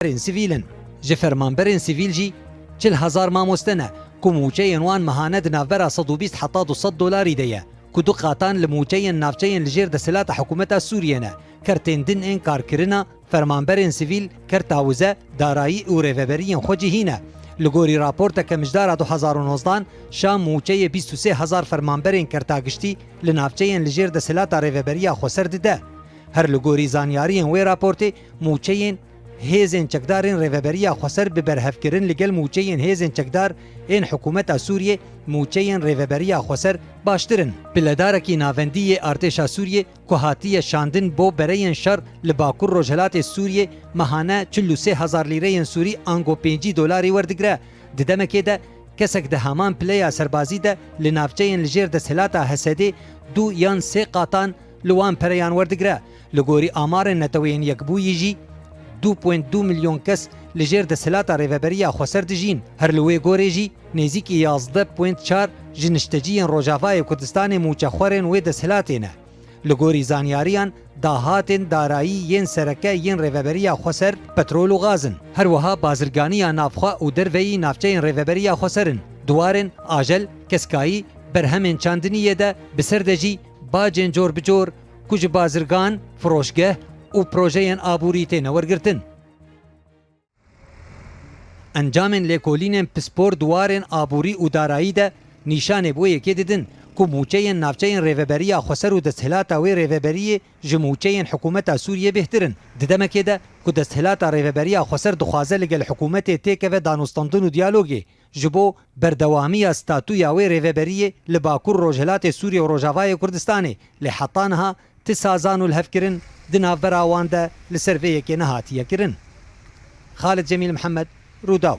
Fermanberên sivîl in. Ji fermanberên sivîl jî çil hezar mamoste ne ku mûçeyên wan mehane di navbera sed û bîst heta du sed dolarî de ye ku du qatan li mûçeyên navçeyên li jêr desthilata hikûmeta Sûriyê ne. Kertên din ên karkirina fermanberên sivîl, kerta wize, darayî û rêveberiyên xwe cihî ne. Li gorî raporteke mijdara du hezar û nozdeh an, Şam mûçeyê bîst û sê hezar fermanberên kerta giştî li navçeyên li jêr desthilata rêveberiya Xweser dide. Her li gorî zanyariyên wê raportê, mûçeyên. Hêzên çekdar ên Rêveberiya Xweser bi berhevkirin li gel mûçeyên hêzên çekdar ên hikûmeta Sûriyê mûçeyên Rêveberiya Xweser baştir in. Piledarekî navendî yê artêşa Sûriyê ku hatiye şandin bo bereyên şer li bakur rojhilatê Sûriyê mehane çil û sê hezar lîreyên Sûrî ango pêncî dolarî werdigire. Di demekê de kesek di heman pileya serbazî de li navçeyên li jêr desthilata Hesedê du yan sê qatan li wan pereyan werdigire. Li gorî amarên Neteweyên Yekbûyî jî du point du milyon kes li jêr desthilata Rêveberiya Xweser dijîn. Her li wê gorê jî nêzîkî yazdeh point çar ji nişteciyên Rojavayê Kurdistanê mûçexwerên wê desthilatê ne. Li gorî zanyariyan dahatên darayî yên sereke yên Rêveberiya Xweser petrol û gaz in. Her wiha bazirganiya navxwe û derveyî navçeyên Rêveberiya Xweser in. Di warên ajel, keskayî, berhemên çandiniyê de bi ser de jî bacên cor bi cor, ku ji bazirgan, firoşgeh û projeyên aborî têne wergirtin. Encamên lêkolînên pispor di warên aborî û darayî de nîşanê bi wê yekê didin ku mûçeyên navçeyên Rêveberiya Xweser û desthilata wê rêveberiyê ji mûçeyên hikûmeta Sûriyê bêhtir in di demekê de ku desthilata Rêveberiya Xweser dixwaze ligel hikûmetê têkeve danûstandin û diyalogê Ji bo berdewamiya statuya wê rêveberiyê li Bakur Rojhilatê Sûriyê û Rojavayê Kurdistanê, lê heta niha ti sazan û lihevkirin di navbera wan de li ser vê yekê nehatiye kirin. Xalid Cemîl Mihemed, Rûdaw.